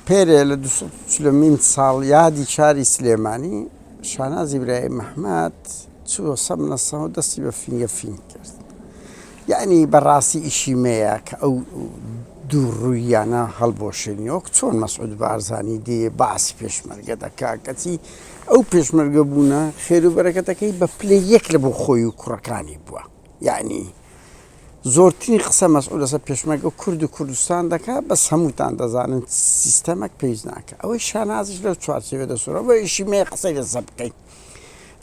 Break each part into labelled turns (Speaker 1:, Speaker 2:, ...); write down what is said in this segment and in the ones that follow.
Speaker 1: پێرێ لە دوو سەد و چلەمین ساڵیادی شاری سلێمانی، شاناز ئیبراهیم محمەد چووە سەر منەسە و دەستی بە فینگە فینگ کرد. یەعنی بە ڕاستی ئیشی مەیە کە ئەو دوو ڕووییانە هەڵبوەشێنی وەک چۆن مەسعود بارزانی دێ باسی پێشمەرگە دەکا کەچی ئەو پێشمەرگە بوونە خێر و بەرەکەتەکەی بە پلەی یەک لە بۆ خۆی و کوڕەکانی بووە. یەعنی زۆرترین قسە مەسعود لەسەر پێشمەرگەو کورد و کوردستان دەکات بەس هەمووتان دەزانن سیستەمەک پێویست ناکە ئەوەی شانازیش لەو چوارچێوێ دەسوورە بۆ ئیشی مێ قسەی لەسە بکەین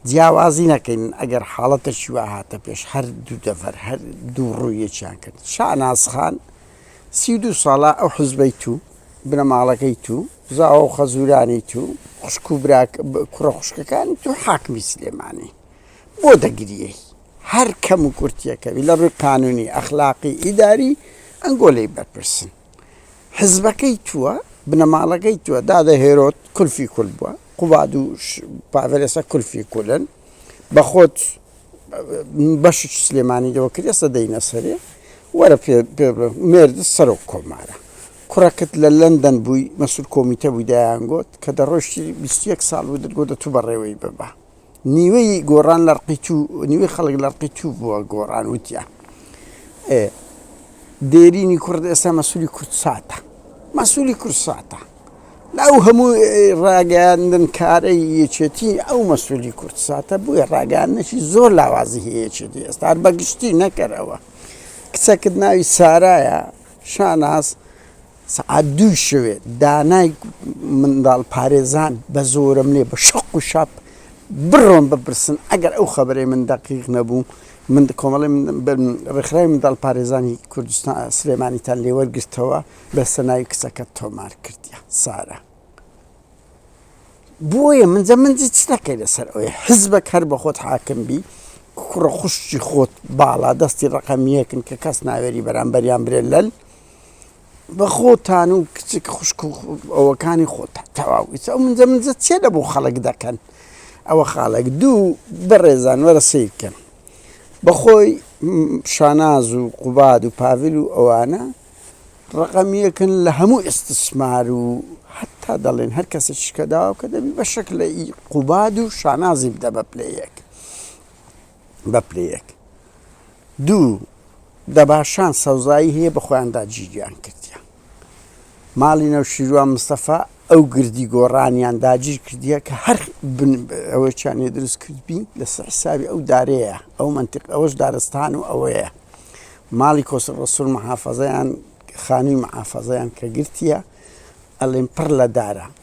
Speaker 1: جیاوازی نەکەین ئەگەر حاڵەتەکی وا هاتە پێش هەر دوو دەفەر هەر دوو ڕوویەکیان کرد شانازخان سی دو ساڵە ئەو حزبەی تو بنەماڵەکەی تو زاوە و خەزورانی تو خوشک و براک کوڕە خوشکەکانی تو حاکمی سلێمانی بۆ دەگریەی هەر کەم و کورتیەکەبی لە ڕووی قانونی، ئەخلاقی، ئیداری ئەنگۆ لێی بەرپرسن. حزبەکەی تووە، بنەماڵەکەی تووە، دادە هێرۆد کولفی کول بووە، قوباد و پاڤێل ئێستا کولفی کولن، بە خۆت بەشت سلێمانی لێوە کرد ئێستا دەینە سەرێ، وەرە پێ بڵێ مێرد سەرۆک کۆمارە. کوڕەکت لە لەندەن بووی مەسول کۆمیتە بووی دەیانگۆت کە دەڕۆیشتی بیست و یەک ساڵ بوو دەتگۆت دە توو بەڕێوەی ببە. نیوەی گۆڕان لە ڕقی تو نیوەی خەڵک لە ڕقی تو بووە گۆڕان وتیە ئێ دێرینی کورد ئێستا مەسولی کورد ساتە مەسولی کورد ساتە لە ئەو هەموو ڕاگەیاندن کارەی یەکێتی ئەو مەسولی کورد ساتە بووە ڕاگەاندنەشی زۆر لاوازی هەیەکێتی ئێستا بەگشتی نەکەرەوە کچەکت ناوی سارایە شاناز سەعات دووی شەوێ دانای منداڵ پارێزان بە زۆرەملێ بە شەق و شاپ بڕۆن بپرسن ئەگەر ئەو خەبەرەی من دەقیق نەبوو من کۆمەڵی ڕێکخراوی منداڵ پارێزانی کوردستان سلێمانیتان لێوەرگرتەوە لەسە ناوی کچەکە تۆمار کردیە سارە بۆیە من جە من چ دەکەی لەسەر ئەوەی حزبەک هەر بە خۆت حاکم بی کوڕە خوشتی خۆت باڵا دەستی ڕقەمیەکن کە کەس ناوێری بەرامبەریان برێ لەل بەخۆتان و کچک خوشک و ئەوەکانی خۆتان تەواو ئیتر ئەو منجە منجە چیە لە بۆ خەڵک دەکەن ئەوە خاڵێک دوو بەڕێزان وەرە سیرکەن بەخۆی شاناز و قوباد و پاڤل و ئەوانە ڕقەمیەکن لە هەموو ئستسمار و حتا دەڵێن هەر کەسێک شکەداوە کە دەبی بە شک لە قوباد و شانازی بدە بە پلەیەک بە پلەیەک دوو دەباشان سەوزایی هەیە بە خۆیاندا جیریان کردیان ماڵی نەوشیروان مستەفا ئەو گردی گۆڕانیان داگیر کردیە کە هەر ئەوەیانێ دروست کردبی لەسەر حساوی ئەو دارەیە ئەو منتیق ئەوەش دارستان و ئەوەیە ماڵی کۆسە ڕسول محافەزەیان خانووی محافەزەیان کە گرتیە ئەلێن پڕ لە دارە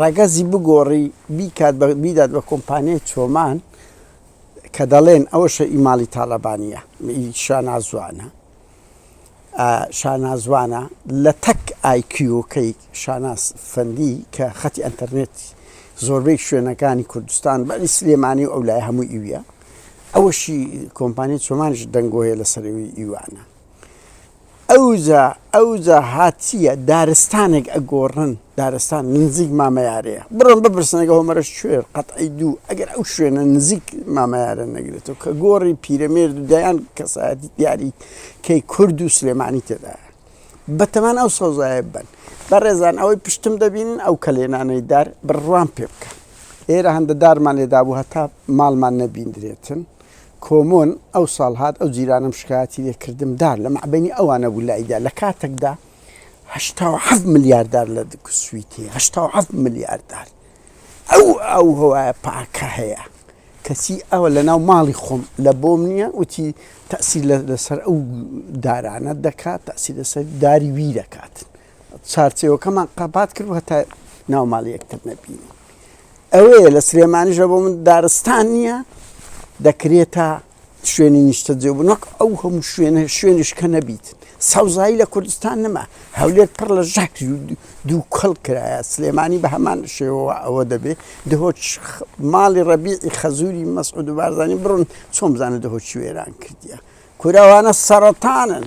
Speaker 1: ڕەگەزی بگۆڕی بیکات بە بیدات بە کۆمپانیای چۆمان کە دەڵێن ئەوەشە ئی ماڵی تاڵەبانیە ئی شانازوانە ئا شانازوانە لە تەک ئایکیۆکەی شاناز فەندی کە خەتی ئەنتەرنێت زۆربەی شوێنەکانی کوردستان بەری سلێمانی و ئەو لای هەموو ئیویە ئەوەشی کۆمپانیای چۆمانش دەنگۆیە لە سەرەوەی ئیوانە ئەوجا ئەوجا هات چیە دارستانێک ئەگۆڕن دارستان نزیک مامەیارەیە بڕۆن بپرسن ئەگە هۆمەرەش کوێر قەتعی دوو ئەگەر ئەو شوێنە نزیک مامەیارە نەگرێتەوە کە گۆڕی پیرەمێرد و دەیان کەسایەتی دیاری کەی کورد و سلێمانی تێدایە بەتەمان ئەو سەوزایە بن بەڕێزان ئەوەی پشتم دەبینن ئەو کەلێنانەی دار بڕوان پێ بکەن ئێرە هەندە دارمان لێدابوو هەتا ماڵمان نەبیندرێتن کۆمۆن ئەو ساڵ هات ئەو جیرانەم شکایەتی لێ کردم دار لە مەعبەنی ئەوانە بوو لای دار لە کاتەک دا هەشتا و حەفت ملیار دار لە سویتی هەشتا و حەفت ملیار دار ئەو ئەو هەوایە پاکە هەیە کەچی ئەوە لە ناو ماڵی خۆم لە بۆم نییە وتی تەسی لەسەر ئەو دارانە دەکات تەسی لەسەر داری وی دەکات. چارچێوەکەمان قەبات کرد هەتا ناو ماڵی یەکتر نەبینی ئەوەیە لە سلێمانیشە بۆ من دارستان نییە دەکرێتە شوێنی نیشتە جێ بوو نەک ئەو هەموو شوێنە شوێنش کە نەبیت سەوزایی لە کوردستان نەما هەولێر پڕ لە ژەک دوو کەڵ کرایە سلێمانی بە هەمان شێوەوە ئەوە دەبێت دهۆچ ماڵی ڕەبیعی خەزوری مەسعود و بارزانانی بڕن چۆم بزانە دهۆچی وێران کردیە کوراوانە سەرەتانن